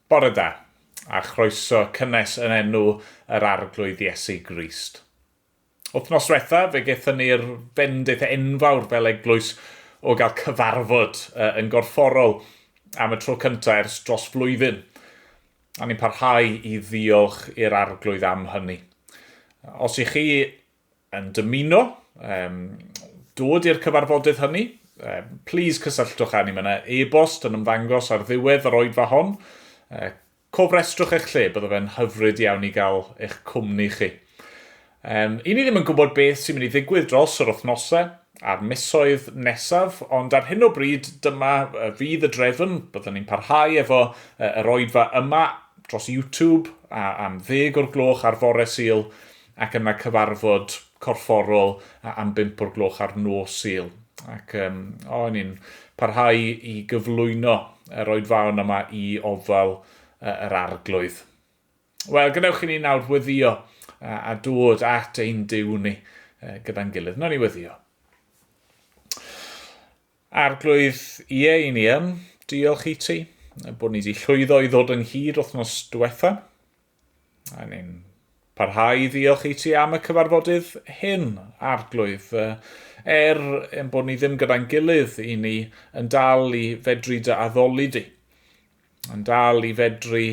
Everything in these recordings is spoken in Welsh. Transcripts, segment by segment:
Bore da, a chroeso cynnes yn enw yr Arglwydd Iesu Grist. Wthnos dwetha, fe gethon ni'r fendith enfawr fel eglwys o gael cyfarfod yn gorfforol am y tro cyntaf ers dros flwyddyn, a ni'n parhau i ddiolch i'r Arglwydd am hynny. Os i chi yn dymuno um, dod i'r cyfarfodydd hynny, um, please cysylltwch â ni. Mae yna e-bost yn ymddangos ar ddiwedd yr oedfa hon. Uh, cofrestrwch eich lle, bydde fe'n hyfryd iawn i gael eich cwmni chi. Um, I ni ddim yn gwybod beth sy'n mynd i ddigwydd dros yr wythnosau a'r misoedd nesaf, ond ar hyn o bryd dyma fydd y drefn, byddwn ni'n parhau efo yr oedfa yma dros YouTube a, am ddeg o'r gloch ar fore syl, Ac yna cyfarfod corfforol am bump o'r gloch ar nos Sul. Ac yym, o, o'n i'n parhau i gyflwyno yr oedfaon yma i ofal yy yr Arglwydd. Wel, gwnewch i ni nawr weddio a, a dod at ein Duw ni yy, gyda'n gilydd. Wnawn ni weddio. Arglwydd, ie, i ni yn diolch i ti bod ni wedi llwyddo i ddod ynghyd wythnos diwetha. A ni'n parhau i ddiolch i ti am y cyfarfodydd hyn, Arglwydd. Er yn bod ni ddim gyda'n gilydd, i ni yn dal i fedru dy addoli di. Yn dal i fedru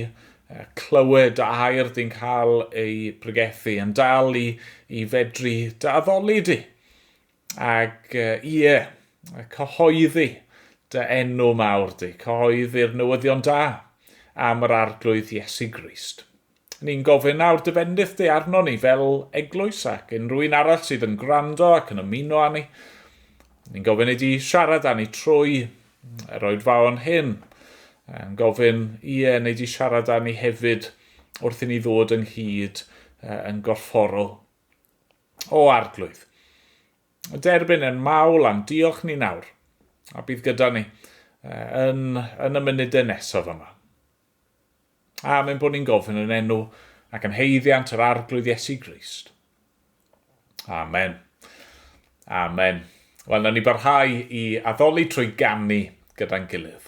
clywed a air di'n cael ei bregethu. Yn dal i, i fedru dy addoli di. Ac ie, cyhoeddi dy enw mawr di, cyhoeddi'r newyddion da am yr Arglwydd Iesu Grist. Ni'n gofyn nawr dy fendith di arno ni fel eglwys ac unrhyw un arall sydd yn gwrando ac yn ymuno â ni. Ni'n gofyn i di siarad â ni trwy yr oedfaon hyn. Yn gofyn, ie, neu di siarad â ni hefyd wrth i ni ddod ynghyd yn gorfforol. O Arglwydd, y derbyn yn mawl a'n diolch ni nawr, a bydd gyda ni yn, yn y munudau nesaf yma. A mynd bod ni'n gofyn yn enw ac yn heiddiant yr Arglwydd Iesu Grist. Amen. Amen. Wel, na ni barhau i addoli trwy gannu gyda'n gilydd.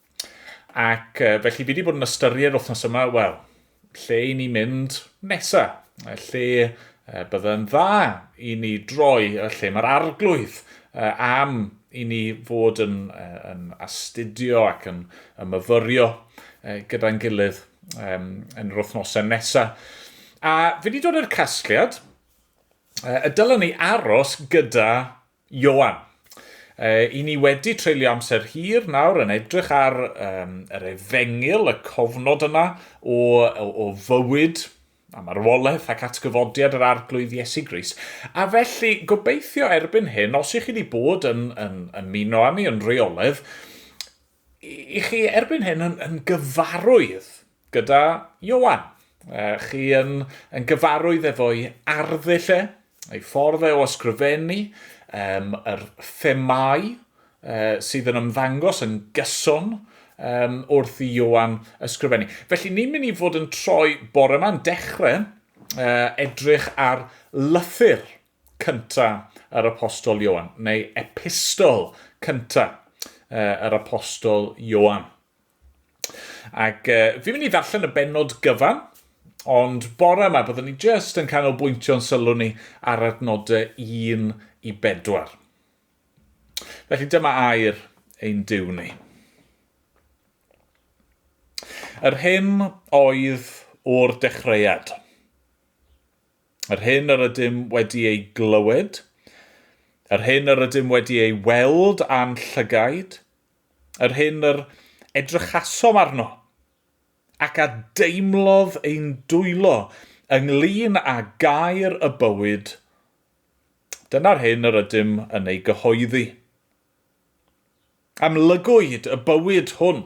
Ac uh, felly fi wedi bod yn ystyried wythnos yma, wel, lle i ni mynd nesa, lle uh, byddai'n dda i ni droi, y lle mae'r arglwydd uh, am i ni fod yn, uh, yn astudio ac yn, yn myfyrio uh, gyda'n gilydd um, yn yr wythnosau nesa. A fi wedi dod i'r casgliad, uh, y dylwn ni aros gyda Ioan. Yy, 'yn ni wedi treulio amser hir nawr yn edrych ar um, yr efengyl, y cofnod yna o, o, o fywyd a marwolaeth ac atgyfodiad yr arglwydd Iesu Gris. A felly, gobeithio erbyn hyn, os ych chi wedi bod yn, yn ymuno â ni yn reoledd, I chi erbyn hyn yn, yn gyfarwydd gyda Iowan. Chi yn, yn gyfarwydd efo'i arddull e, ei ffordd e o ysgrifennu, um, yr themau uh, sydd yn ymddangos yn gyson um, wrth i Iowan ysgrifennu. Felly ni'n mynd i fod yn troi bore yma'n dechrau uh, edrych ar lythyr cynta yr Apostol Ioan, neu epistol cynta yr Apostol Ioan. Ac uh, fi'n mynd i ddarllen y benod gyfan, ond bore yma byddwn ni jyst yn canolbwyntio'n sylw ni ar adnodau 1 i 4. Felly dyma air ein diw ni. Yr hyn oedd o'r dechreuad. Yr hyn yr ydym wedi ei glywed, yr hyn yr ydym wedi ei weld â'n llygaid, yr hyn yr edrychasom arno, ac a deimlodd ein dwylo ynglŷn â gair y bywyd, dyna'r hyn yr ydym yn ei gyhoeddi. Amlygwyd y bywyd hwn.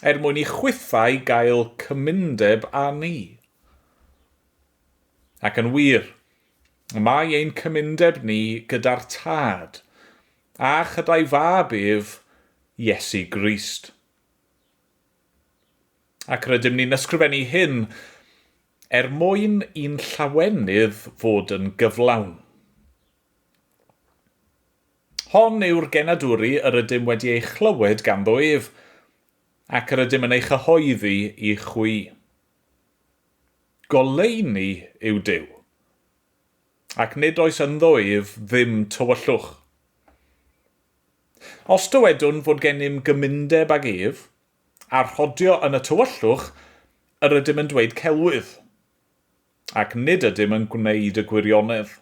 Er mwyn i chwithau gael cymundeb â ni. Ac yn wir, y mae ein cymundeb ni gyda'r Tad, a chyda'i Fab ef, Iesu Grist. Ac rydym ni'n ysgrifennu hyn er mwyn i'n llawenydd fod yn gyflawn. Hon yw'r genadwri yr ydym wedi ei chlywed ganddo ef, ac yr ydym yn ei chyhoeddi i chwi. Goleuni yw Duw, ac nid oes ynddo ef ddim tywyllwch. Os dywedwn fod gennym gymundeb ag ef, a rhodio yn y tywyllwch, yr ydym yn dweud celwydd, ac nid ydym yn gwneud y gwirionedd.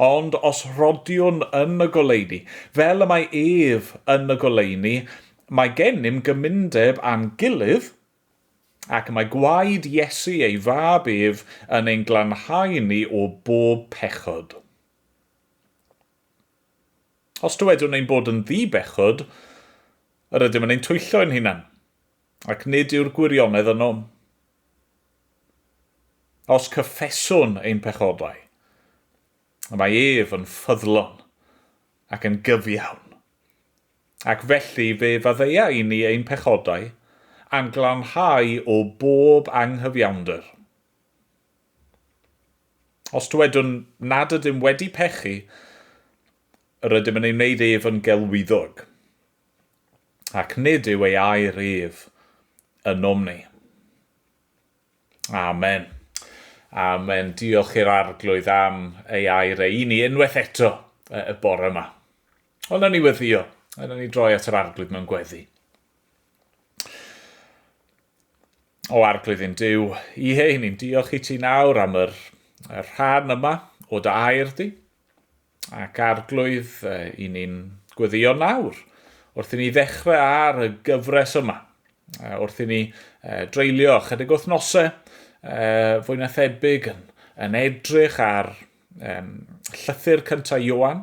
Ond os rhodiwn yn y goleuni, fel y mae ef yn y goleuni, mae gennym gymundeb â'n gilydd, ac mae gwaed Iesu ei fab ef yn ein glanhau ni o bob pechod. Os dywedwn ein bod yn ddi-bechod, yr ydym yn ein twyllo ein hunan. Ac nid yw'r gwirionedd ynom. Os cyffeswn ein pechodau, y mae ef yn ffyddlon ac yn gyfiawn, ac felly fe faddeia i ni ein pechodau, a'n glanhau o bob anghyfiawnder. Os dywedwn nad ydym wedi pechu, yr ydym yn ei wneud ef yn gelwyddog, ac nid yw ei air ef ynom ni. Amen. Amen. Diolch i'r Arglwydd am ei air e i ni unwaith eto y bore yma. Ond na ni weddio, a na ni droi at yr Arglwydd mewn gweddi. O Arglwydd yn Dyw, i hei, ni'n diolch i ti nawr am yr, yr rhan yma o dy air di. Ac Arglwydd, i ni'n gweddïo nawr, wrth i ni ddechrau ar y gyfres yma, wrth i ni dreulio chydig wythnosau fwy na thebyg yn, yn edrych ar um, llythyr cyntaf Ioan,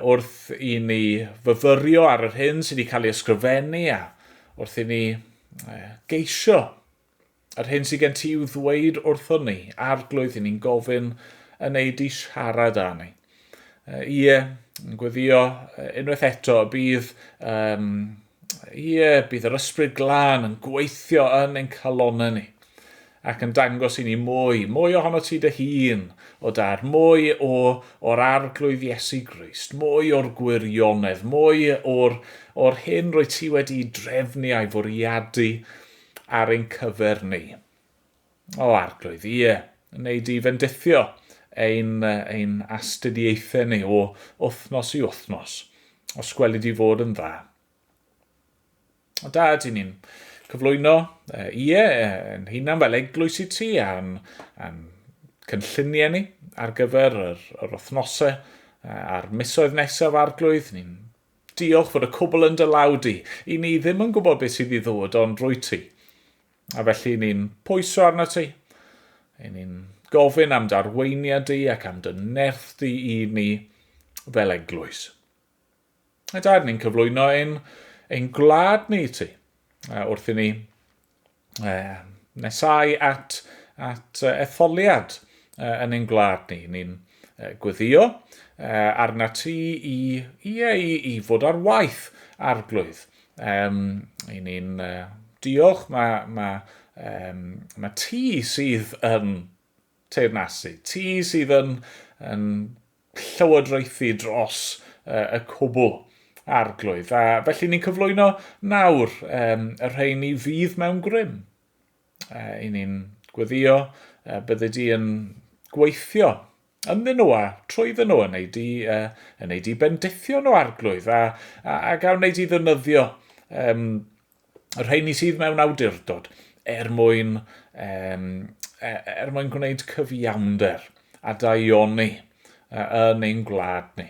wrth i ni fyfyrio ar yr hyn sydd wedi cael ei ysgrifennu a wrth i ni geisio Yr hyn sydd gen ti i'w ddweud wrthon ni, arglwydd, i ni'n gofyn yn ei di siarad â ni. Ie, yn gweddio unwaith eto, bydd, um, ie, bydd yr ysbryd glân yn gweithio yn ein calonau ni ac yn dangos i ni mwy, mwy ohono ti dy hun, o dar, mwy o, o'r arglwydd Iesu Grist, mwy o'r gwirionedd, mwy o'r, o'r hyn rwy ti wedi drefnu a'i fwriadu ar ein cyfer ni. O, Arglwydd, ie, yn wneud i fendithio ein, ein astudiaethau ni o wythnos i wythnos, os gwelid i fod yn dda. O da, ydyn ni'n cyflwyno, ie, yn hunan fel eglwys i ti a'n, a'n cynlluniau ni ar gyfer yr, yr wythnosau a'r misoedd nesaf arglwydd, ni'n Diolch fod y cwbl yn dy law di. I ni ddim yn gwybod beth sydd i ddod ond rwy ti. A felly ni'n pwyso arna ti. I ni'n gofyn am darweiniad di ac am dy nerth di i ni fel eglwys. A dair ni'n cyflwyno ein, ein gwlad ni i ti. A wrth i ni um, nesau at, at uh, etholiad uh, yn ein gwlad ni. Ni'n uh, gweddio uh, arna ti i, i, i, i fod ar waith arglwydd. Um, I ni'n uh, diolch, mae, mae, um, mae ti sydd yn teyrnasu, ti sydd yn, yn llywodraethu dros y cwbl arglwydd. A felly ni'n cyflwyno nawr um, y rheini fydd mewn grym. Uh, I ni'n gweddio uh, bydde di yn gweithio ynddyn nhw a trwyddyn nhw yn ei di, uh, yn ei di bendithio nhw arglwydd a, a, a gawn ei di ddynyddio um, y rheini sydd mewn awdurdod er mwyn, um, er mwyn gwneud cyfiawnder a daioni yn ein gwlad ni,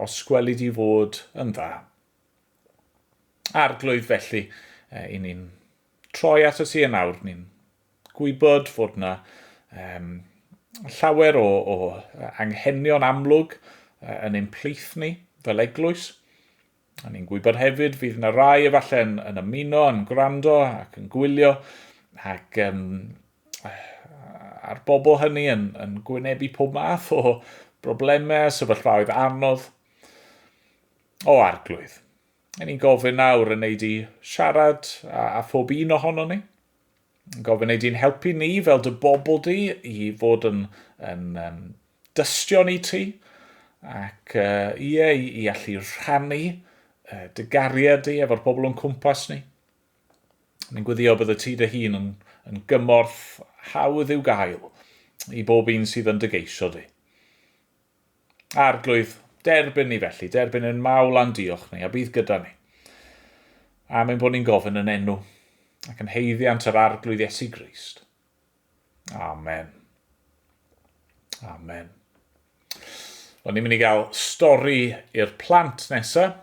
os gwelid i fod yn dda. Arglwydd felly, i ni'n troi at y si yn awr, ni'n gwybod fod yna um, llawer o, o anghenion amlwg yn ein plith ni fel eglwys, A ni'n gwybod hefyd fydd yna rai efallai'n yn ymuno, yn gwrando ac yn gwylio ac um, a'r bobl hynny yn, yn gwynebu pob math o broblemau, sefyllfaoedd anodd o arglwydd. A ni'n gofyn nawr yn ei di siarad a, a phob un ohono ni. Gofyn ei di'n helpu ni fel dy bobl di i fod yn, yn um, dystion i ti ac uh, ie, i, i allu rhannu uh, dy gariad di efo'r pobl o'n cwmpas ni. Ni'n gwyddio bydd y ti dy hun yn, yn gymorth hawdd i'w gael i bob un sydd yn dy geisio di. Arglwydd, derbyn ni felly, derbyn yn mawl a'n diolch ni, a bydd gyda ni. Am ein bod ni'n gofyn yn enw, ac yn heiddiant yr Arglwydd Iesu Grist. Amen. Amen. Wel, ni'n mynd i gael stori i'r plant nesaf,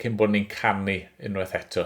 cyn bod ni'n canu unwaith eto.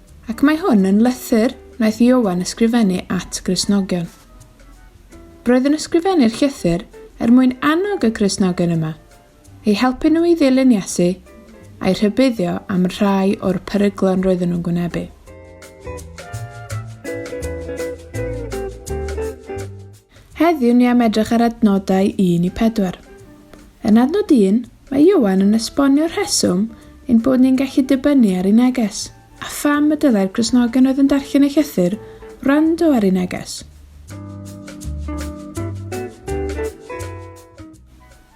Ac mae hwn yn lythyr wnaeth Ioan ysgrifennu at Gristnogion. Roedd yn ysgrifennu'r llythyr er mwyn annog y Cristnogion yma, eu helpu nhw i ddilyn Iesu a'i rhybuddio am rhai o'r peryglon roedden nhw'n gwynebu. Heddiw ni am edrych ar adnodau 1 i 4. Yn adnod 1, mae Ioan yn esbonio'r rheswm ein bod ni'n gallu dibynnu ar ei neges, a pham y dylai'r Gristnogion oedd yn darllen ei llythyr wrando ar ei neges.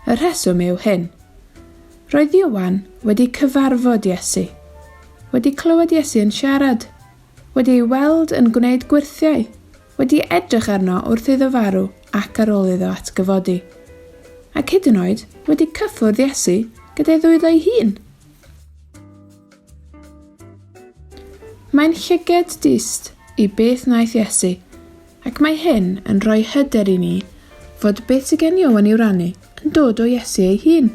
Y rheswm yw hyn. Roedd Ioan wedi cyfarfod Iesu, wedi clywed Iesu yn siarad, wedi ei weld yn gwneud gwyrthiau, wedi edrych arno wrth iddo farw ac ar ôl iddo atgyfodi, ac hyd yn oed wedi cyffwrdd Iesu gyda'i ddwylo ei hun. Mae'n llyged dyst i beth wnaeth Iesu, ac mae hyn yn rhoi hyder i ni fod beth sydd gen Ioan i'w rannu. yn dod o Iesu ei hun.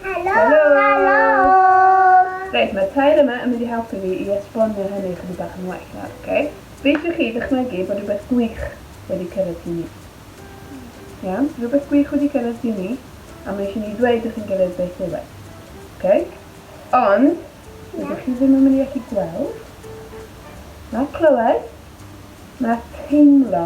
Helo! Helo! Reit, mae'r tair yma yn mynd i helpu fi i esbonio hynny ychydig bach yn well nawr, oce? Rydych chi ddychmygu bod rhywbeth gwych wedi cyrraedd chi ni. Iawn? Rhywbeth gwych wedi cyrraedd chi ni, a mae eisiau ni ddweud wrth yn gilydd beth yw e. Oce? Ond, rydych chi ddim yn mynd i allu gweld, na clywed, na teimlo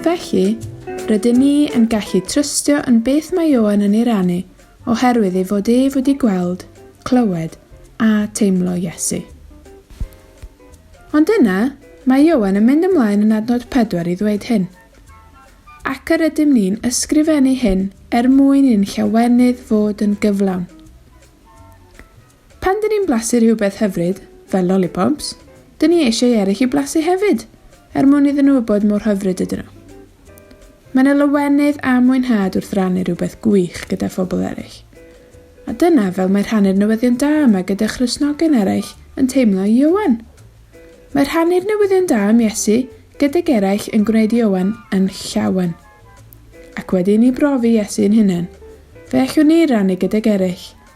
Felly, rydyn ni yn gallu trystio yn beth mae Ioan yn ei rannu oherwydd ei fod ef wedi gweld, clywed a teimlo Iesu. Ond yna, mae Ioan yn mynd ymlaen yn adnod 4 i ddweud hyn. Ac yr ydym ni'n ysgrifennu hyn er mwyn i'n llawenydd fod yn gyflawn. Pan dyn ni'n blasu rhywbeth hyfryd, fel lollipops, dyn ni eisiau i eraill i blasu hefyd, er mwyn iddyn nhw wybod mor hyfryd ydyn nhw. Mae yna lawenydd a mwynhad wrth rannu rhywbeth gwych gyda phobl eraill. A dyna fel mae rhannu'r newyddion da yma gyda Christnogion eraill yn teimlo i Ioan. Mae rhannu'r newyddion da am Iesu gydag eraill yn gwneud i Ioan yn llawen. Ac wedi i ni brofi Iesu yn hunain, fe allwn ni rannu gydag eraill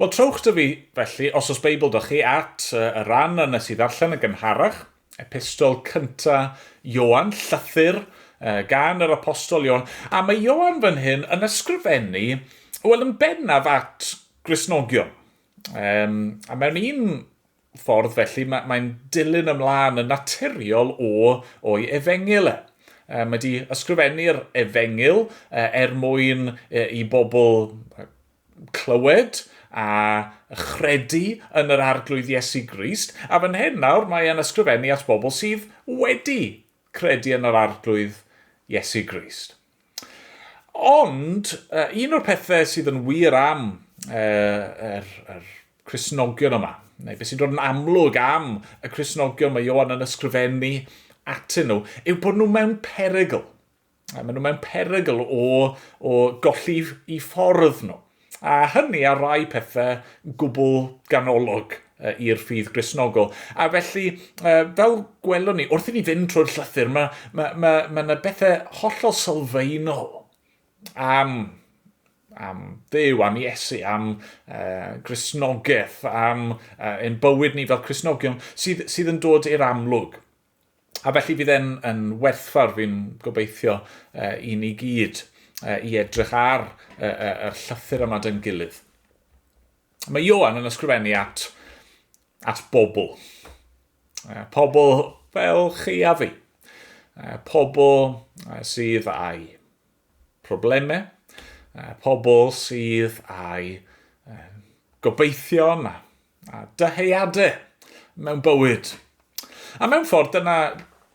Wel, trowch 'da fi, felly, os oes Beibl 'da chi, at y ran a nes i ddarllen yn gynharach, epistol cynta Ioan, llythyr gan yr apostol Ioan, a mae Ioan fan hyn yn ysgrifennu, wel, yn bennaf at Gristnogion. Um, a mewn un ffordd felly, mae, mae'n dilyn ymlaen yn naturiol o, o'i efengyl e. Mae wedi ysgrifennu'r efengyl er mwyn i bobl clywed a chredu yn yr arglwydd Iesu Grist, a fan hyn nawr mae e'n ysgrifennu at bobl sydd wedi credu yn yr arglwydd Iesu Grist. Ond, un o'r pethau sydd yn wir am yr Cristnogion yma, neu beth sy'n dod yn amlwg am y Cristnogion mae Ioan yn ysgrifennu atyn nhw, yw bod nhw mewn perygl. Mae nhw mewn perygl o golli i ffordd nhw. a hynny ar rai pethau gwbl ganolog i'r ffydd Gristnogol. A felly, fel gwelwn ni, wrth i ni fynd trwy'r llythyr, mae yna ma, ma, ma bethau hollol sylfaenol am, am ddew, am Iesu, am uh, Gristnogaeth, am uh, ein bywyd ni fel Cristnogion, sydd, sydd yn dod i'r amlwg. A felly bydd e'n yn werthfawr, fi'n gobeithio, uh, i ni gyd uh, i edrych ar uh, uh, y llythyr yma dyn gilydd. Mae Ioan yn ysgrifennu at, at bobl. Uh, pobl fel chi a fi. Uh, pobl uh, sydd â'i problemau, uh, pobl sydd â'i uh, gobeithion a A dyheadau mewn bywyd. A mewn ffordd, dyna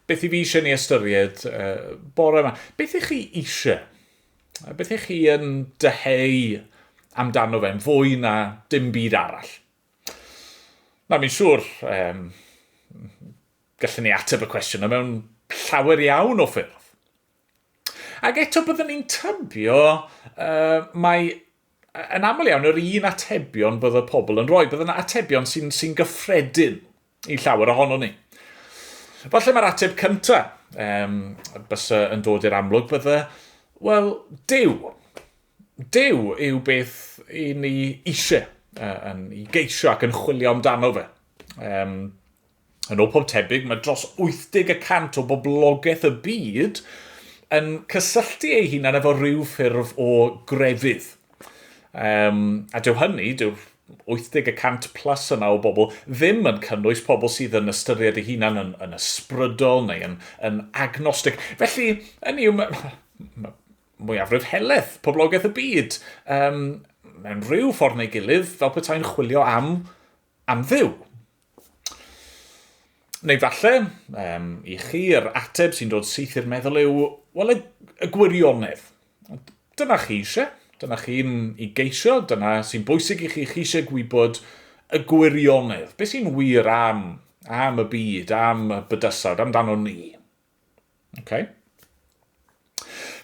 beth i fi eisiau ni ystyried uh, bore yma. Beth ych chi eisiau? Beth ych chi yn dyheu amdano fe'n fwy na dim byd arall? Na, mi'n siŵr, um, gallwn ni ateb y cwestiwn yma mewn llawer iawn o ffyrdd. Ac eto byddwn ni'n tybio uh, mae yn aml iawn, yr un atebion bydd y pobl yn rhoi. Bydd yna atebion sy'n sy gyffredin i llawer ohono ni. Falle mae'r ateb cyntaf um, bys yn dod i'r amlwg bydde, wel, Dyw. Dyw yw beth i ni eisiau, uh, yn, i geisio ac yn chwilio amdano fe. Um, Yn ôl pob tebyg, mae dros 80 y cant o boblogaeth y byd yn cysylltu eu hunain efo rhyw ffurf o grefydd. Um, a dyw hynny, dyw'r 80 y cant plus yna o bobl ddim yn cynnwys pobl sydd yn ystyried eu hunan yn, yn ysbrydol neu yn, yn agnostig. Felly, yn yw, mae mwyafrif heledd poblogaeth y byd um, mewn rhyw ffordd neu gilydd fel petai'n chwilio am am Dduw. Neu falle, um, i chi, yr ateb sy'n dod syth i'r meddwl yw, wel, y, y gwirionedd. Dyna chi eisiau, dyna chi'n i geisio, dyna sy'n bwysig i chi, chi eisiau gwybod y gwirionedd. Beth sy'n wir am, am y byd, am y bydysawd, amdano ni. Okay.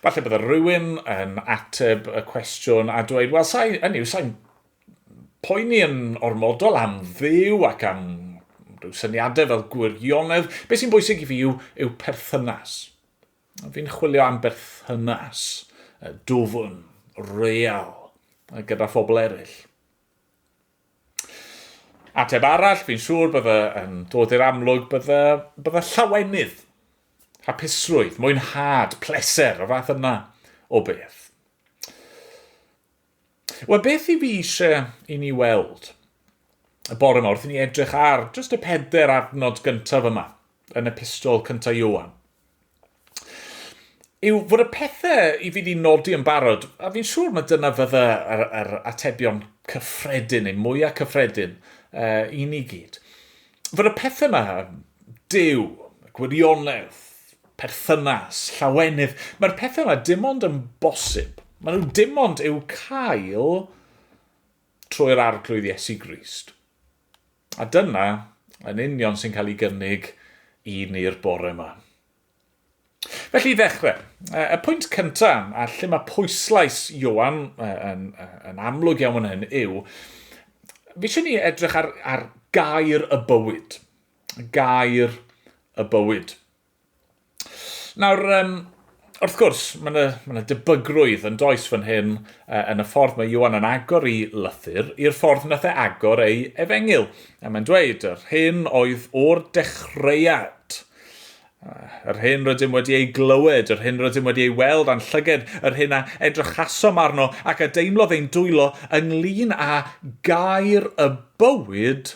Falle bydde rhywun yn ateb y cwestiwn a dweud, wel, sa'i, hynny yw, sa'i'n poeni yn ormodol am ddiw ac am rhyw syniadau fel gwirionedd. Be sy'n bwysig i fi yw, yw perthynas. Fi'n chwilio am berthynas, dwfn, real, gyda phobl eraill. Ateb arall, fi'n siŵr bydde yn dod i'r amlwg, bydde, bydde llawenydd, hapusrwydd, mwynhad, pleser, y fath yna o beth. Wel, beth i fi eisiau i ni weld y bore yma wrth i ni edrych ar jyst y peder adnod gyntaf yma yn epistol cyntaf Iowan. yw fod y pethau i fi wedi nodi yn barod, a fi'n siŵr mae dyna fydda yr, yr atebion cyffredin neu mwyaf cyffredin uh, i ni gyd. Fod y pethau yma, dew, gwirionedd, perthynas, llawenydd, mae'r pethau yma dim ond yn bosib. Mae nhw dim ond i'w cael trwy'r arglwydd Iesu Grist. A dyna yn union sy'n cael ei gynnig i ni'r bore yma. Felly i ddechrau, y pwynt cyntaf, a lle mae pwyslais Ioan yn, yn amlwg iawn yn hyn, yw, fi eisiau ni edrych ar, ar gair y bywyd. Gair y bywyd. Nawr, um, wrth gwrs, mae yna, mae yna debygrwydd yn does fan hyn uh, yn y ffordd mae Iwan yn agor i lythyr i'r ffordd nath e agor ei efengyl. A mae'n dweud, yr hyn oedd o'r dechreuad. Yr hyn rydym wedi ei glywed, yr hyn rydym wedi ei weld a'n llyged, yr hyn a edrychasom arno ac a deimlodd ein dwylo ynglyn â gair y bywyd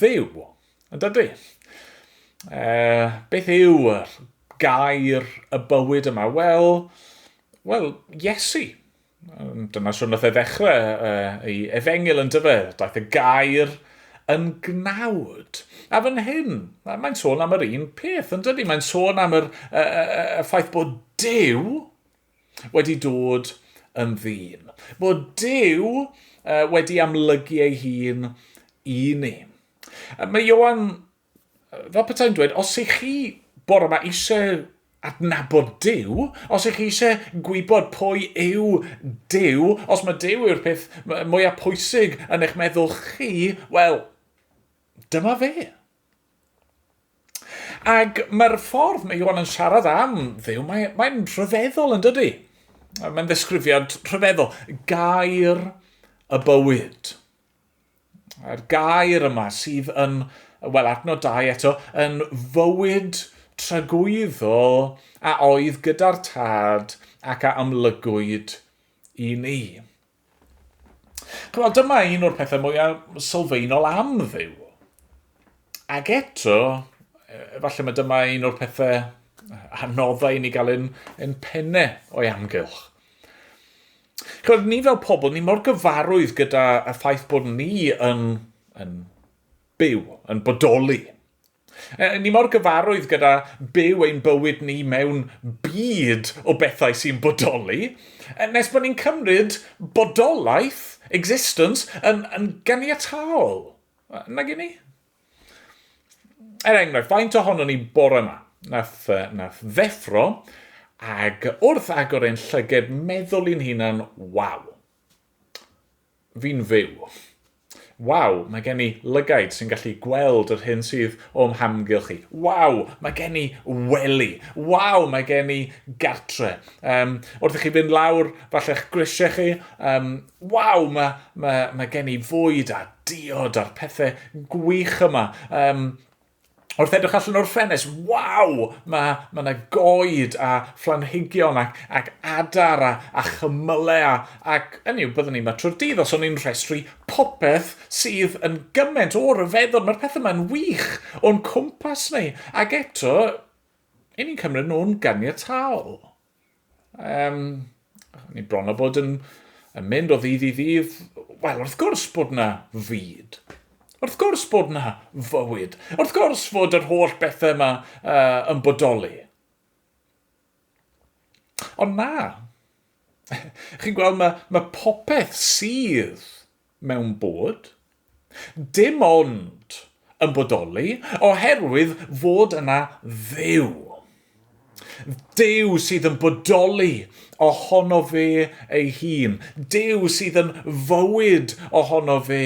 fyw, yn dydy? E, beth yw y gair y bywyd yma? Wel, wel, Iesu. Dyna sy'n nath e ddechrau e, ei efengil yn dyfe, daeth y gair yn gnawd. A fan hyn, mae'n sôn am yr un peth, yn dydy? Mae'n sôn am yr, y, y, y ffaith bod Dyw, wedi dod yn ddyn, bod Duw wedi amlygu ei hun i ni. Mae Ioan, fel petai'n dweud, os ych chi bore yma eisiau adnabod Duw, os ych chi eisiau gwybod pwy yw Duw, os mae Duw yw'r peth mwyaf pwysig yn eich meddwl chi, wel, dyma fe. Ac mae'r ffordd mae Iwan yn siarad am ddew, mae, mae'n rhyfeddol yn dydy. Mae'n ddesgrifiad rhyfeddol. Gair y bywyd. A'r gair yma sydd yn, wel, adnod dau eto, yn fywyd tragwyddol a oedd gyda'r tad ac a amlygwyd i ni. Chymod, dyma un o'r pethau mwyaf sylfaenol am ddew. Ac eto, efallai mae dyma un o'r pethau anoddau i ni gael yn, yn penne o'i amgylch. Chymod, ni fel pobl, ni mor gyfarwydd gyda y ffaith bod ni yn, yn byw, yn bodoli, Ni mor gyfarwydd gyda byw ein bywyd ni mewn byd o bethau sy'n bodoli, nes bod ni'n cymryd bodolaeth, existence, yn, yn ganiataol, nag i ni? Er enghraifft, faint ohono ni bore yma, nath, nath ddeffro, ag wrth agor ein llyged meddwl i'n hunan, waw, fi'n fyw. Waw, mae gen i lygaid sy'n gallu gweld yr hyn sydd o'm hamgylch i. Waw, mae gen i wely. Waw, mae gen i gartre. Um, wrth i chi fynd lawr, falle'ch grisiau chi. Um, waw, mae, mae, mae gen i fwyd a diod a'r pethau gwych yma. Um, wrth edrych allan o'r ffenest, waw, mae ma yna goed a phlanhigion ac, ac adar a, a chymylau a, ac yn yw, byddwn ni'n matro'r dydd os o'n i'n rhestru popeth sydd yn gymaint o ryfeddod, mae'r pethau yma'n wych o'n cwmpas ni, ac eto, i ni'n cymryd nhw'n ganiataol. Um, ni bron o bod yn, yn mynd o ddydd i ddydd. Wel, wrth gwrs bod na fyd. Wrth gwrs bod na fywyd. Wrth gwrs fod yr holl bethau yma uh, yn bodoli. Ond na, chi'n gweld, mae, mae popeth sydd mewn bod, dim ond yn bodoli oherwydd fod yna Dduw. Duw sydd yn bodoli ohono fe ei hun, Duw sydd yn fywyd ohono fe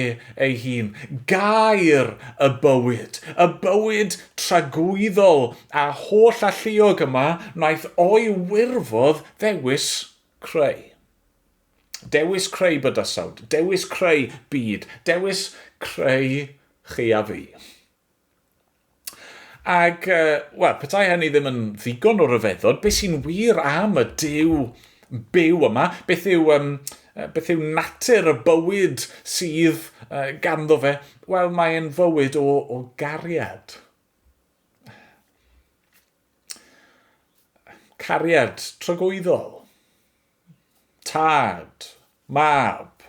ei hun, Gair y bywyd, y bywyd tragwyddol a holl-alluog yma wnaeth o'i wirfodd ddewis creu. Dewis creu bydysawd, dewis creu byd, dewis creu chi a fi. Ac, uh, wel, petai hynny ddim yn ddigon o ryfeddod, beth sy'n wir am y dew byw yma? Beth yw, um, beth yw natur y bywyd sydd uh, ganddo fe? Wel, mae'n fywyd o, o gariad. Cariad trygwyddol. Tad, Mab,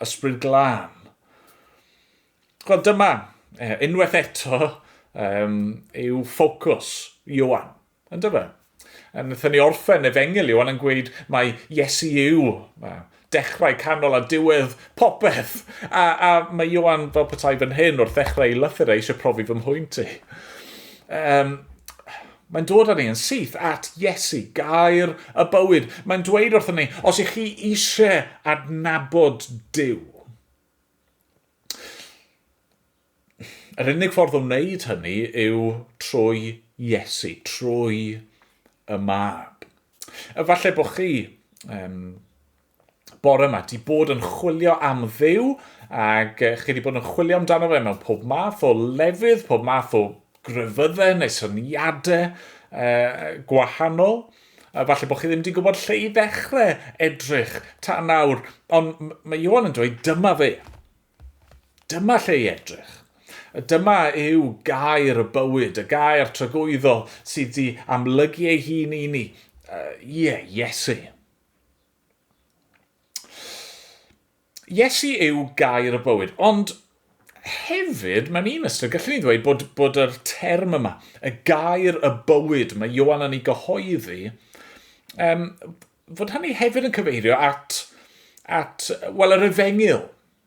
Ysbryd Glân. Wel, dyma, uh, unwaith eto, um, yw ffocws Iowan, yn dyfa. Yn ydyn ni orffen efengil Iowan yn gweud mae Iesu yw uh, dechrau, canol a diwedd popeth. A, a mae Iowan fel petai fan hyn wrth ddechrau ei lythyr a eisiau profi fy mhwynt i. Um, Mae'n dod â ni yn syth at Iesu, gair y bywyd. Mae'n dweud wrthyn ni, os ych chi eisiau adnabod Duw, yr unig ffordd o wneud hynny yw trwy Iesu, trwy y mab. Efallai bod chi um, bore yma, di bod yn chwilio am ddew, ac chi wedi bod yn chwilio amdano fe mewn pob math o lefydd, pob math o grefyddau neu syniadau uh, gwahanol. A falle bod chi ddim wedi gwybod lle i ddechrau edrych ta nawr, ond mae Iwan yn dweud dyma fe. Dyma lle i edrych. Dyma yw gair y bywyd, y gair tragwyddol sydd wedi amlygu ei hun i ni. Ie, uh, yeah, Iesu. Iesu yw gair y bywyd, ond hefyd, mewn un ystod, gallwn ni ddweud bod, bod yr term yma, y gair y bywyd, mae Iowan yn ei gyhoeddi, um, fod hynny hefyd yn cyfeirio at, at wel, yr efengyl.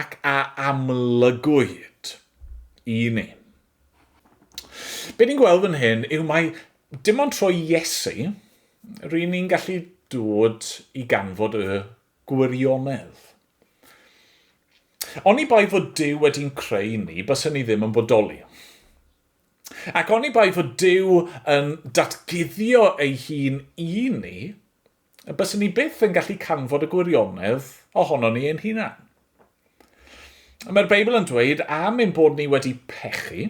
ac a amlygwyd i ni. Be ni'n gweld fan hyn yw mai dim ond trwy Iesu ry'n ni'n gallu dod i ganfod y gwirionedd. Oni bai fod Duw wedi'n creu ni, bysen ni ddim yn bodoli. Ac oni bai fod Duw yn datguddio ei hun i ni, a byswn ni byth yn gallu canfod y gwirionedd ohonon ni ein hunan. Mae'r Beibl yn dweud am ein bod ni wedi pechu,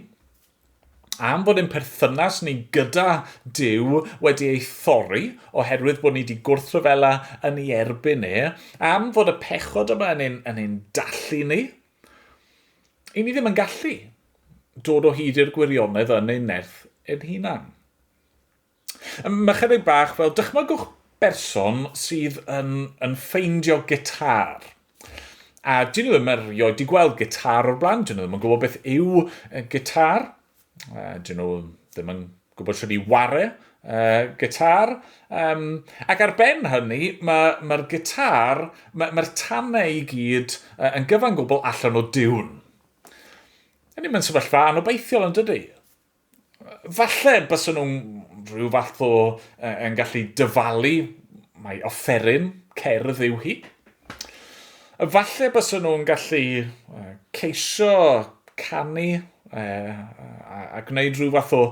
am bod ein perthynas ni gyda Dyw wedi ei thorri oherwydd bod ni wedi gwrthryfela yn ei erbyn e, am fod y pechod yma yn ein, yn ein dallu ni, i ni ddim yn gallu dod o hyd i'r gwirionedd yn ein nerth ein hunan. Mae chydig bach fel dychmygwch berson sydd yn, yn ffeindio gitar. A dyn nhw ddim erioed wedi gweld gitar o'r blaen, dyn nhw ddim yn gwybod beth yw gitar, dyn nhw ddim yn gwybod sydd wedi ware uh, gitar. Um, ac ar ben hynny, mae'r ma, ma gitar, mae'r ma tanau i gyd uh, yn gyfan gwbl allan o diwn. Ydy, mae'n sefyllfa anobeithiol yn dydy. Falle byswn nhw'n rhyw fath o yn gallu dyfalu mai offeryn cerdd yw hi. Falle byswn nhw'n gallu ceisio canu a gwneud rhyw fath o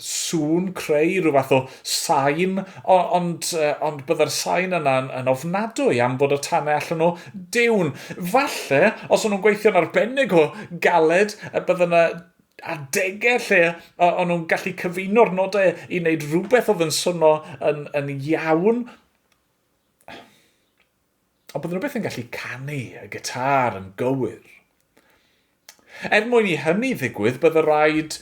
sŵn, creu rhyw fath o sain, ond, ond bydde'r sain yna yn ofnadwy am bod y tanau allan o diwn. Falle, os o'n nhw'n gweithio'n arbennig o galed, y bydde yna adegau lle o'n nhw'n gallu cyfuno'r nodau i wneud rhywbeth oedd yn swnio yn, yn iawn. Ond bydden nhw beth yn gallu canu y gitar yn gywir. Er mwyn i hynny ddigwydd, bydde rhaid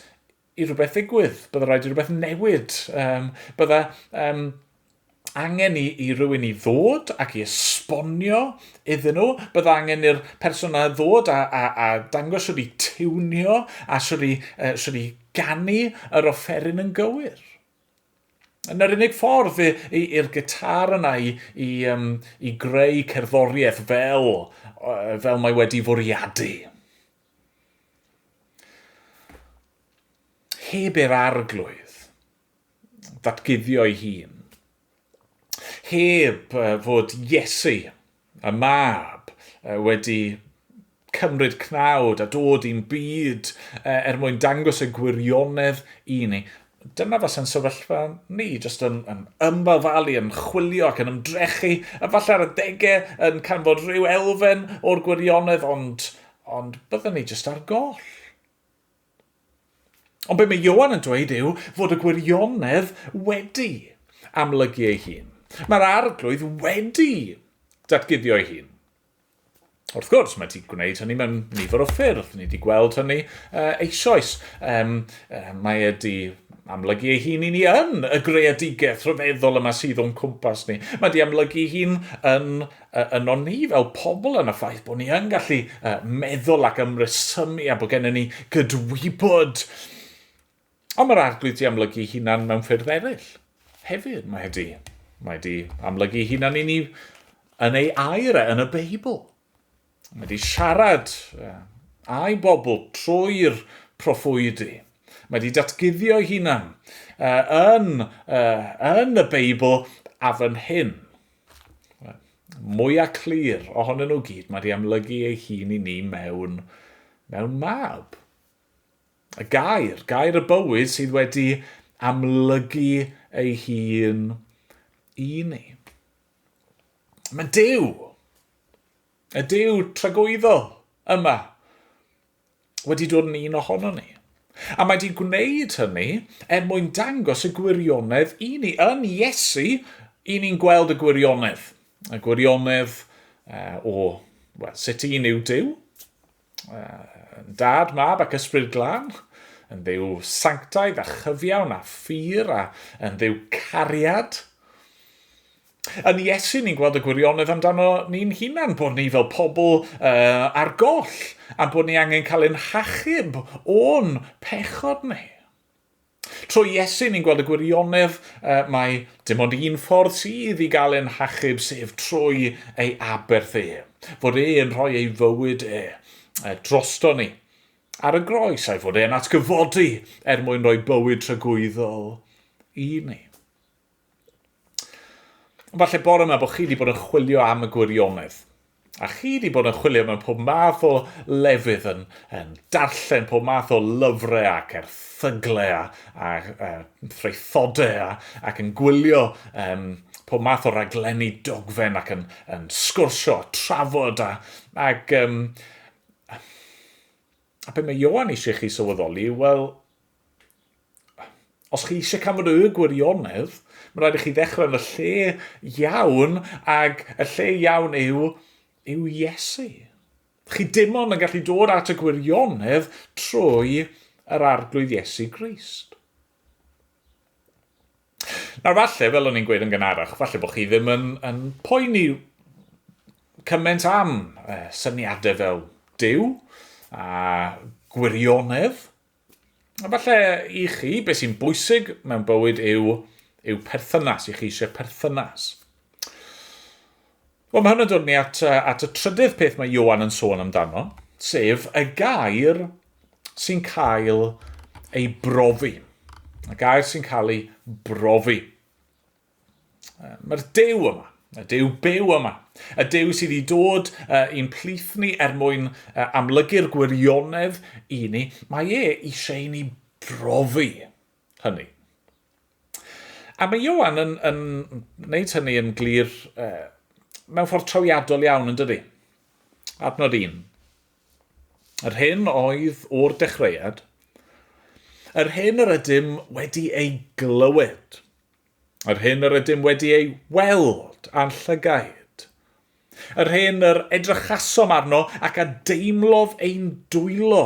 i rhywbeth ddigwydd, bydda rhaid i rhywbeth newid, um, bydda um, angen i, i rywun i ddod ac i esbonio iddyn nhw, bydda angen i'r person yna ddod a, a, a dangos sydd wedi tiwnio a sydd wedi, uh, sydd wedi ganu yr offeryn yn gywir. Yn yr unig ffordd i'r gitar yna i, i, um, i greu cerddoriaeth fel, uh, fel mae wedi fwriadu. Heb i'r Arglwydd ddatguddio'i hun, heb fod Iesu, y Mab, wedi cymryd cnawd a dod i'n byd er mwyn dangos y gwirionedd i ni, Dyna fasa'n sefyllfa ni, jyst yn, yn ymfafalu, yn chwilio ac yn ymdrechu, efallai ar adegau yn canfod rhyw elfen o'r gwirionedd, ond, ond byddwn ni jyst ar goll. Ond be mae Ioan yn dweud yw fod y gwirionedd wedi amlygu ei hun. Mae'r arglwydd wedi datguddio ei hun. Wrth gwrs, mae wedi gwneud hynny mewn nifer o ffyrdd. Ni wedi gweld hynny uh, eisoes. Um, uh, mae wedi amlygu ei hun i ni yn y greadigaeth rhyfeddol yma sydd o'n cwmpas ni. Mae wedi amlygu ei hun yn, uh, yn o'n ni fel pobl yn y ffaith bod ni yn gallu uh, meddwl ac ymresymu a bod gennym ni gydwybod Ond mae'r Arglwydd di amlygu hunan mewn ffyrdd eraill. Hefyd, mae e di, mae e di amlygu hunan i ni yn ei air e, yn y Beibl. Mae di siarad e, a'i bobl trwy'r proffwydi. Mae di datguddio ei hunan e, yn, e, yn y Beibl a fan hyn. Mwyaf clir ohonyn nhw gyd, mae di amlygu ei hun i ni mewn, mewn mab. Y gair, gair y bywyd sydd wedi amlygu ei hun i ni. Mae Dyw, y Dyw tragwyddol yma, wedi dod yn un ohono ni. A mae wedi gwneud hynny er mwyn dangos y gwirionedd i ni. Yn Iesu, i ni'n gweld y gwirionedd. Y gwirionedd uh, o well, sut un yw Dyw, Yn dad, mab ac ysbryd glân, yn ddew sanctaidd a chyfiawn a ffyr a yn ddew cariad. Yn Iesu ni'n gweld y gwirionedd amdano ni'n hunan, bod ni fel pobl uh, ar goll, a bod ni angen cael ein hachub o'n pechod ni. Trwy Iesu, ni'n gweld y gwirionedd uh, mae dim ond un ffordd sydd i gael ein hachub, sef trwy ei aberth e. Fod e yn rhoi ei fywyd e, e drosto ni ar y groes, a'i fod e'n atgyfodi er mwyn rhoi bywyd tragwyddol i ni. Falle bore yma bod chi wedi bod yn chwilio am y gwirionedd. A chi wedi bod yn chwilio mewn pob math o lefydd yn, yn darllen pob math o lyfrau ac erthyglau a, a, a threithodau a, ac yn gwylio um, pob math o raglenni dogfen ac yn, yn sgwrsio a trafod a, ac um, A beth mae Ioan eisiau chi sylweddoli yw, wel, os chi eisiau cael y gwirionedd, mae'n rhaid i chi ddechrau yn y lle iawn, ac y lle iawn yw, yw Iesu. Chi dim ond yn gallu dod at y gwirionedd trwy yr arglwydd Iesu Grist. Nawr falle, fel o'n i'n gweud yn gynharach, falle bod chi ddim yn, yn poeni cymaint am uh, syniadau fel Dyw a gwirionedd. A falle i chi, beth sy'n bwysig mewn bywyd yw, yw perthynas, i chi eisiau perthynas. Wel, mae hwn yn dod ni at, at y trydydd peth mae Iowan yn sôn amdano, sef y gair sy'n cael ei brofi. Y gair sy'n cael ei brofi. Mae'r dew yma, y dew byw yma, y dew sydd wedi dod uh, i'n plith ni er mwyn uh, amlygu'r gwirionedd i ni, mae e eisiau i ni brofi hynny. A mae Ioan yn, yn wneud hynny yn glir uh, mewn ffordd trawiadol iawn, yn dydy? Adnod un. Yr hyn oedd o'r dechreuad, yr hyn yr ydym wedi ei glywed, yr hyn yr ydym wedi ei weld a'n llygaid, yr hyn yr edrychasom arno ac a deimlodd ein dwylo,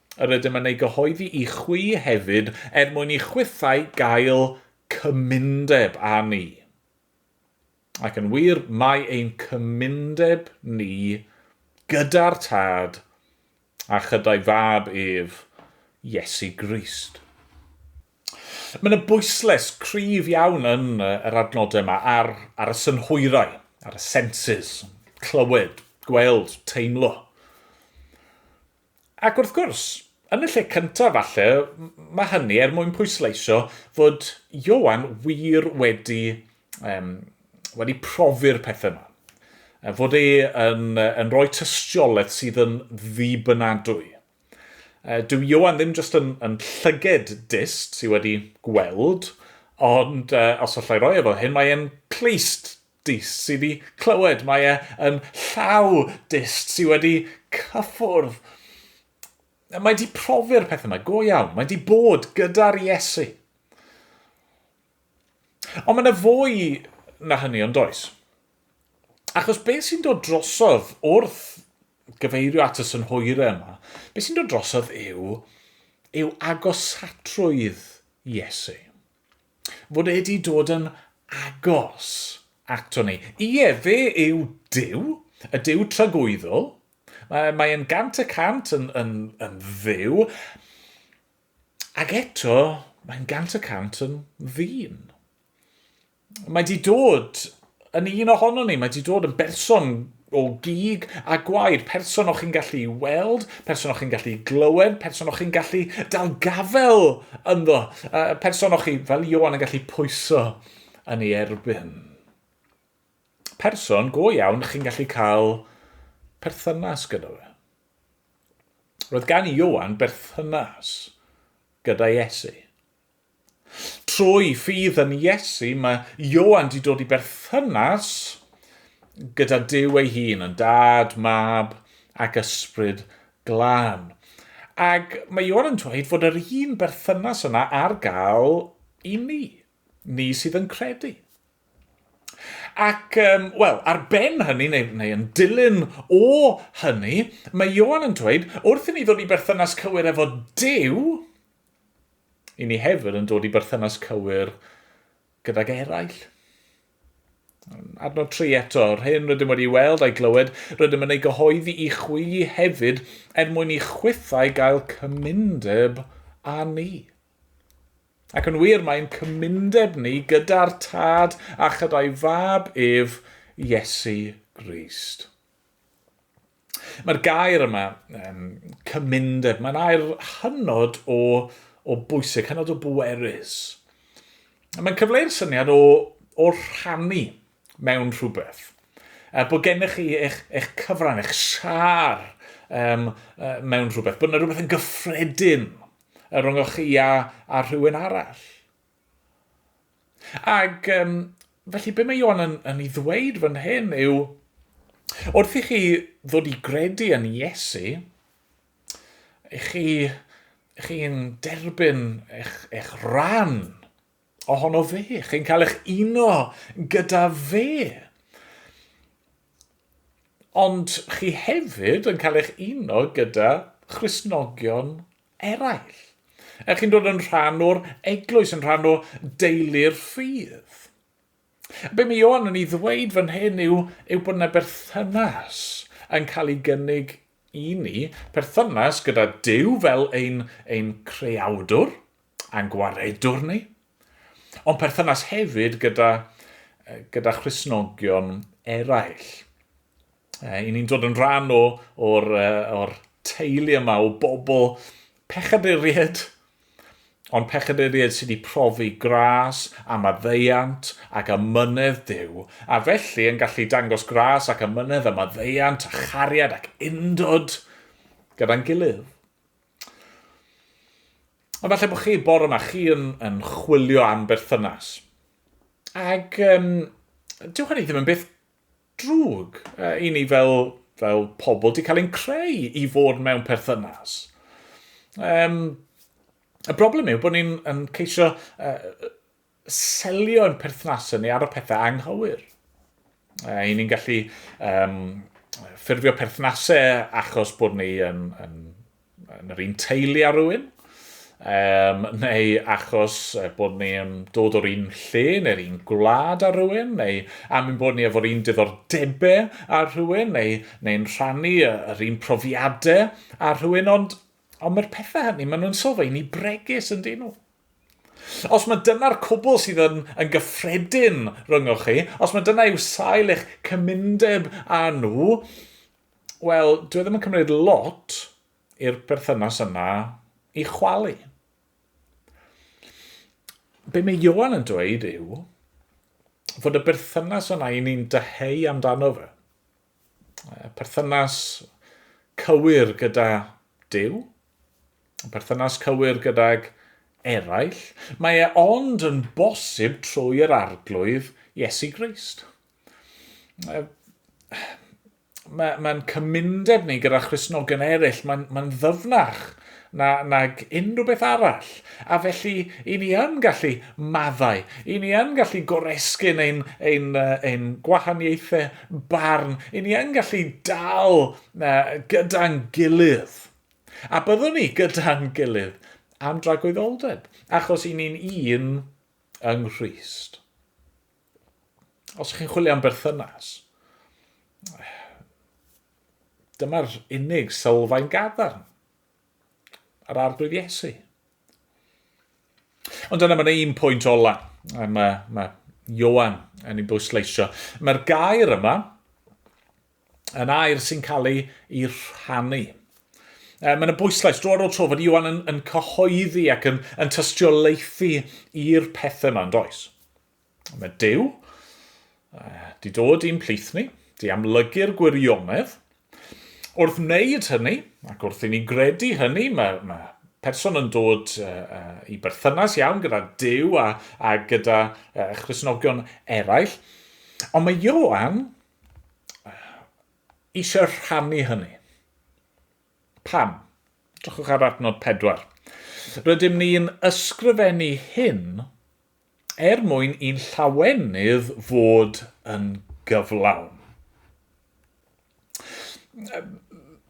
yr ydym yn ei gyhoeddi i chwi hefyd, er mwyn i chwithau gael cymundeb â ni. Ac yn wir, mae ein cymundeb ni gyda'r Tad a chyda'i Fab ef, Iesu Grist. Mae yna bwysles cryf iawn yn yr adnodau yma ar, ar y synhwyrau, ar y senses, clywed, gweld, teimlo. Ac wrth gwrs, yn y lle cyntaf falle, mae hynny er mwyn pwysleisio fod Ioan wir wedi, um, wedi profi'r pethau yma. Fod e yn, yn rhoi tystiolaeth sydd yn ddibynadwy. Dyw Ioan ddim jyst yn, yn llyged dist sydd wedi gweld, ond uh, os allai roi efo hyn, mae e'n clust Dyst sydd i clywed, mae e yn llaw dyst sydd wedi cyffwrdd. Mae di profi'r peth yma, go iawn, mae di bod gyda'r Iesu. Ond mae yna fwy na hynny ond does. Achos beth sy'n dod drosodd wrth gyfeirio at y synhwyrau yma, beth sy'n dod drosodd yw, yw agosatrwydd Iesu. Fod e 'di dod yn agos ato ni. Ie, fe yw Duw, y Duw tragwyddol. Mae, mae e'n gant y cant yn, yn, yn dduw. Ac eto, mae'n gant y cant yn ddyn. Mae di dod yn un ohono ni, mae di dod yn berson o gig a gwaed, person o'ch chi'n gallu weld, person o'ch chi'n gallu glywed, person o'ch chi'n gallu dal gafel ynddo, uh, person o'ch chi fel Iowan yn gallu pwyso yn ei erbyn. Person go iawn chi'n gallu cael perthynas gyda fe. Roedd gan Iowan berthynas gyda Iesu. Trwy ffydd yn Iesu, mae Ioan 'di dod i berthynas gyda Duw ei hun, yn Dad, Mab ac Ysbryd Glân. Ac mae Ioan yn dweud fod yr un berthynas yna ar gael i ni, ni sydd yn credu. Ac, um, wel, ar ben hynny, neu, neu yn dilyn o hynny, mae Ioan yn dweud, wrth i ni ddod i berthynas cywir efo Duw, i ni hefyd yn dod i berthynas cywir gydag eraill. Adnod 3 eto, yr hyn rydym wedi weld a'i glywed, rydym yn ei gyhoeddi i chwili hefyd er mwyn i chwithau gael cymundeb â ni. Ac yn wir, mae'n cymundeb ni gyda'r Tad a chyda'i Fab ef, Iesu Grist. Mae'r gair yma, um, cymundeb, mae'n air hynod o, o bwysig, hynod o bwerus. Mae'n cyfleu'r syniad o, o rhannu mewn rhywbeth. A bod gennych chi eich, eich cyfran, eich siar um, uh, mewn rhywbeth. Bod yna rhywbeth yn gyffredin rhwng o'ch chi a, a rhywun arall. Ac um, felly be mae Ion yn, yn ei ddweud fan hyn yw, wrth i chi ddod i gredu yn Iesu, chi, chi'n derbyn eich, eich rhan ohono fe, chi'n cael eich uno gyda fe. Ond chi hefyd yn cael eich uno gyda Christnogion eraill. Er chi'n dod yn rhan o'r eglwys, yn rhan o deulu'r ffydd. Be mae Ioan yn ei ddweud fan hyn yw, yw bod yna berthynas yn cael ei gynnig i ni, perthynas gyda Dyw fel ein, ein creawdwr a'n gwaredwr ni, ond perthynas hefyd gyda, gyda Christnogion eraill. Eh, I ni'n dod yn rhan o, o'r, uh, or teulu yma o bobl pechaduried, ond pechaduried sydd wedi profi gras a maddeiant ac a mynedd Dyw, a felly yn gallu dangos gras ac a mynedd a maddeiant a chariad ac undod gyda'n gilydd. Ond falle bod chi bore yma, chi yn, yn chwilio am berthynas. Ac um, dyw hynny ddim yn beth drwg. Uh, I ni fel, fel pobl di cael ein creu i fod mewn perthynas. Um, y broblem yw bod ni'n ceisio uh, selio yn perthnasau ni ar y pethau anghywir. Uh, I ni'n gallu um, ffurfio perthnasau achos bod ni yn, yn yn yr un teulu â rhywun, um, neu achos bod ni'n dod o'r un lle neu'r un gwlad â rhywun, neu am ein bod ni efo'r un diddordebau â rhywun, neu neu'n rhannu yr un profiadau â rhywun, ond, ond mae'r pethau hynny, maen nhw'n sylfaen ni bregus yn dyn nhw. Os mae dyna'r cwbl sydd yn, yn gyffredin rhyngoch chi, os mae dyna yw sail eich cymundeb â nhw, Wel, dwi ddim yn cymryd lot i'r perthynas yna i chwalu. Be mae Johan yn dweud yw fod y berthynas yna i ni'n dyheu amdano fe. Perthynas cywir gyda Dyw, perthynas cywir gydag eraill, mae e ond yn bosib trwy yr arglwydd Iesu Grist. mae'n ma cymundeb ni gyda Christnogion eraill, mae'n ma ddyfnach na, nag unrhyw beth arall. A felly, i ni yn gallu maddau, i ni yn gallu goresgyn ein, ein, ein gwahaniaethau barn, i ni yn gallu dal gyda'n gilydd. A byddwn ni gyda'n gilydd am dragwyddoldeb, achos i ni'n un yng Nghyst. Os chi'n chwilio am berthynas, dyma'r unig sylfaen gadarn yr arglwydd Iesu. Ond dyna mae'n un pwynt ola. Mae, mae Iowan yn ei bwysleisio. Mae'r gair yma yn air sy'n cael ei, ei rhannu. E, mae'n y bwyslais dro ar ôl tro fod Iowan yn, yn cyhoeddi ac yn, yn tystiolaethu i'r pethau yma yn does. Mae Duw uh, di dod i'n plith ni, di amlygu'r gwirionedd. Wrth wneud hynny, ac wrth i ni gredu hynny, mae, mae person yn dod uh, uh, i berthynas iawn gyda Dyw a, a gyda uh, Christnogion eraill. Ond mae Ioan eisiau rhannu hynny. Pam? Drychwch ar adnod pedwar. Rydym ni'n ysgrifennu hyn er mwyn i'n llawenydd fod yn gyflawn.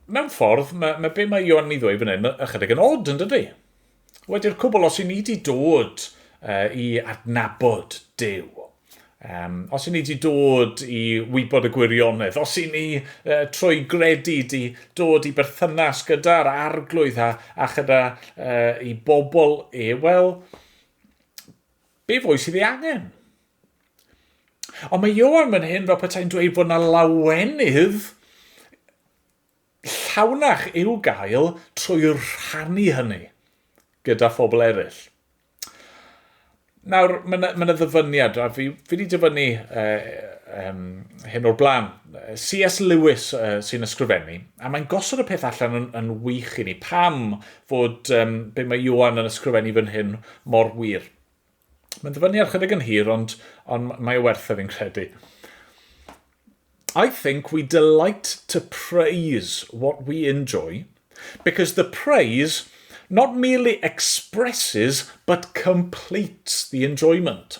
Mewn ffordd, mae, mae be mae Ioan yn ei ddweud fan hyn, mae ychydig yn od yn dydy. Wedi'r cwbl, os i ni wedi dod uh, i adnabod Dyw, Um, os i ni wedi dod i wybod y gwirionedd, os i ni uh, trwy gredu di dod i berthynas gyda'r arglwydd a, a chyda uh, i bobl e, wel, Be fwy sydd ei angen? Ond mae Ioan fan hyn fel petai'n dweud bod yna lawenydd llawnach i'w gael trwy rhannu hynny gyda phobl eraill. Nawr, mae yna, mae yna ddyfyniad, a fi, fi wedi dyfynnu uh, um, hyn o'r blaen, C.S. Lewis uh, sy'n ysgrifennu, a mae'n gosod y peth allan yn, yn wych i ni. Pam fod um, be mae Ioan yn ysgrifennu fan hyn mor wir. Mae'n ddyfynnu ar chydig yn hir, ond, ond mae o werth e fi'n credu. I think we delight to praise what we enjoy because the praise not merely expresses but completes the enjoyment.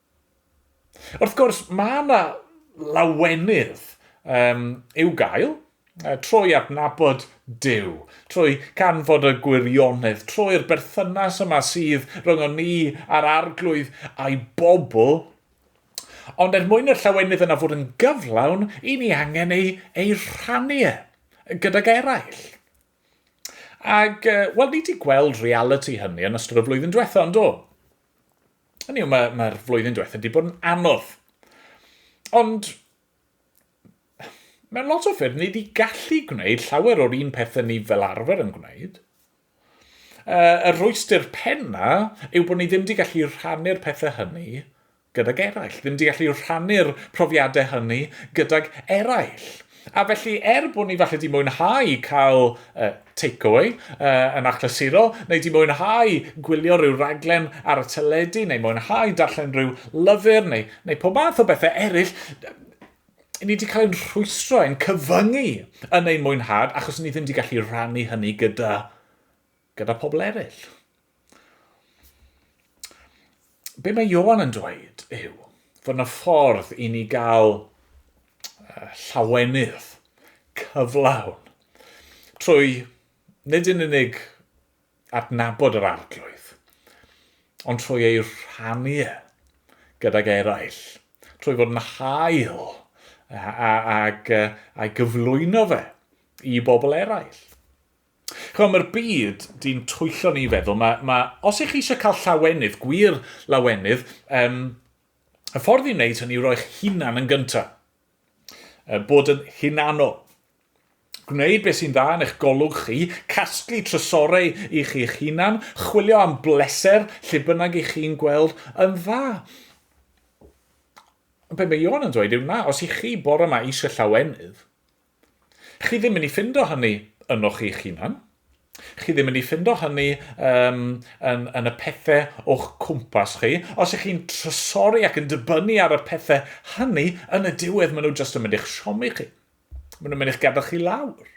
Wrth gwrs, mae yna lawenydd um, i'w gael, trwy adnabod Dyw, trwy canfod y gwirionedd, trwy'r berthynas yma sydd rhwng o ni a'r arglwydd a'i bobl, ond er mwyn y llawenydd yna fod yn gyflawn, i ni angen ei, ei rhannu e gydag eraill. Ac, uh, wel, ni wedi gweld reality hynny yn ystod y flwyddyn diwetha, ond do? Hynny yw, mae'r mae flwyddyn diwetha wedi bod yn anodd. Ond, mewn lot o ffyrdd, ni wedi gallu gwneud llawer o'r un pethau ni fel arfer yn gwneud. Uh, y rhwystyr penna yw bod ni ddim wedi gallu rhannu'r pethau hynny gydag eraill, ddim di gallu rhannu'r profiadau hynny gydag eraill. A felly, er bod ni falle di mwynhau cael uh, takeaway uh, yn achlysurol, neu di mwynhau gwylio rhyw raglen ar y teledu, neu mwynhau darllen rhyw lyfr, neu, neu pob math o bethau eraill, ni wedi cael ein rhwystro, ein cyfyngu yn ein mwynhad, achos ni ddim wedi gallu rannu hynny gyda gyda pobl eraill. Be mae Ioan yn dweud yw fod yna ffordd i ni gael llawenydd cyflawn trwy nid yn unig adnabod yr arglwydd, ond trwy ei rhannu e gydag eraill, trwy fod yn hael ac a'i gyflwyno fe i bobl eraill. Ch'mo', mae'r byd 'di'n twyllo ni i feddwl, ma' ma' os 'ych chi eisiau cael llawenydd, gwir lawenydd, um, y ffordd i wneud hynny yw roi'ch hunan yn gyntaf. Uh, bod yn hunanol. Gwneud beth sy'n dda yn eich golwg chi, casglu trysorau i chi eich hunan, chwilio am bleser lle bynnag i chi'n gweld yn dda. Be mae Ion yn dweud yw na, os i chi bore yma eisiau llawenydd, Chi ddim yn ei ffindo hynny ynoch chi'ch hunan. Chi ddim yn ei ffindo hynny um, yn, yn y pethau o'ch cwmpas chi. Os ych chi'n trysori ac yn dibynnu ar y pethau hynny, yn y diwedd maen nhw jyst yn mynd i'ch siomi chi. Maen nhw'n mynd i'ch gadael chi lawr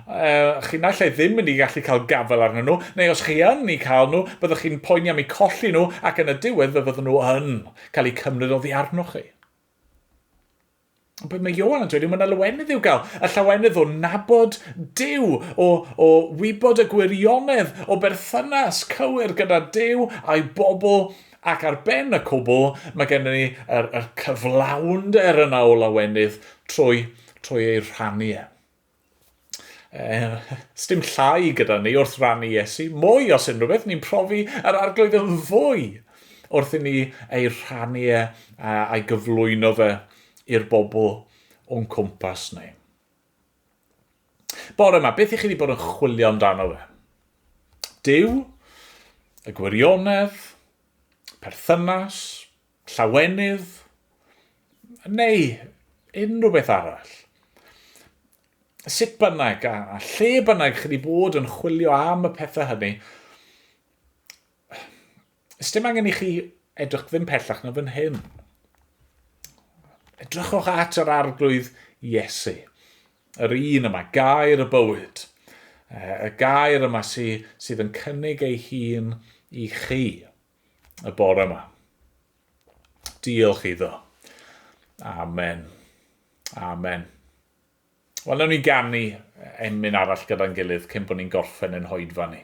uh, chi naill ai ddim mynd i gallu cael gafael arnyn nhw, neu os chi yn i cael nhw, byddwch chi'n poeni am eu colli nhw ac yn y diwedd fe fyddwn nhw yn cael eu cymryd oddi arnoch chi. Be mae Ioan yn dweud yw mae yna lawenydd i'w gael, y llawenydd o nabod Dyw, o, o wybod y gwirionedd o berthynas cywir gyda Dyw a'i bobl, ac ar ben y cwbl mae gennym ni yr, yr cyflawnder yna o lawenydd trwy, trwy ei rhannu e. Eh, sdim llai gyda ni wrth rannu Iesu. Mwy, os unrhyw beth, ni'n profi yr arglwydd yn fwy wrth i ni ei rhannu e a'i gyflwyno fe i'r bobl o'n cwmpas ni. Bore yma, beth i chi wedi bod yn chwilio amdano fe? Dyw, y gwirionedd, perthynas, llawenydd neu unrhyw beth arall. Sut bynnag a lle bynnag chi wedi bod yn chwilio am y pethau hynny, ys dim angen i chi edrych ddim pellach na fan hyn. Edrychwch at yr arglwydd Iesu, yr un yma, gair y bywyd, y gair yma sydd yn cynnig ei hun i chi. y bore yma. Diolch iddo. Amen. Amen. Wel, nawn ni ganu emyn arall gyda'n gilydd cyn bod ni'n gorffen yn hoedfa ni.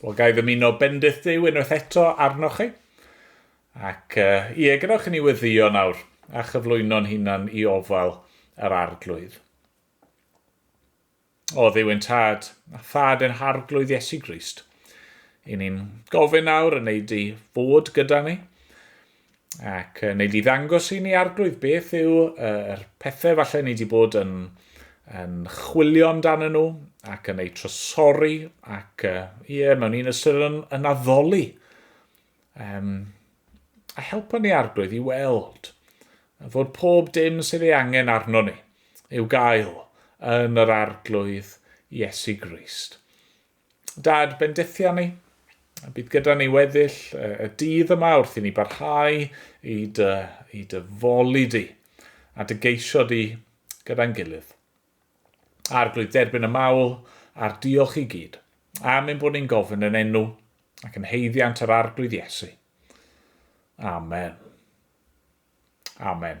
Wel, gai ddymuno bendith Duw unwaith eto arnoch chi. Ac uh, ie, gadewch i ni weddio nawr a chyflwyno'n hunan i ofal yr arglwydd. O ddiw yn tad, a thad yn harglwydd Iesu Grist. I ni'n gofyn nawr yn ei di fod gyda ni, Ac uh, nei di ddangos i ni arglwydd beth yw uh, yr pethau falle ni wedi bod yn, yn chwilio amdano nhw ac yn eu trosori ac uh, yeah, mewn un ystyr yn, yn addoli. Um, a helpa ni arglwydd i weld fod pob dim sydd ei angen arno ni i'w gael yn yr arglwydd Iesu Grist. Dad bendithia ni, a bydd gyda ni weddill y dydd yma wrth i ni barhau i dy, i dy foli di, a dy geisio di gyda'n gilydd. Arglwydd, derbyn y mawl a'r diolch i gyd, am ein bod ni'n gofyn yn enw ac yn heiddiant yr Arglwydd Iesu. Amen. Amen.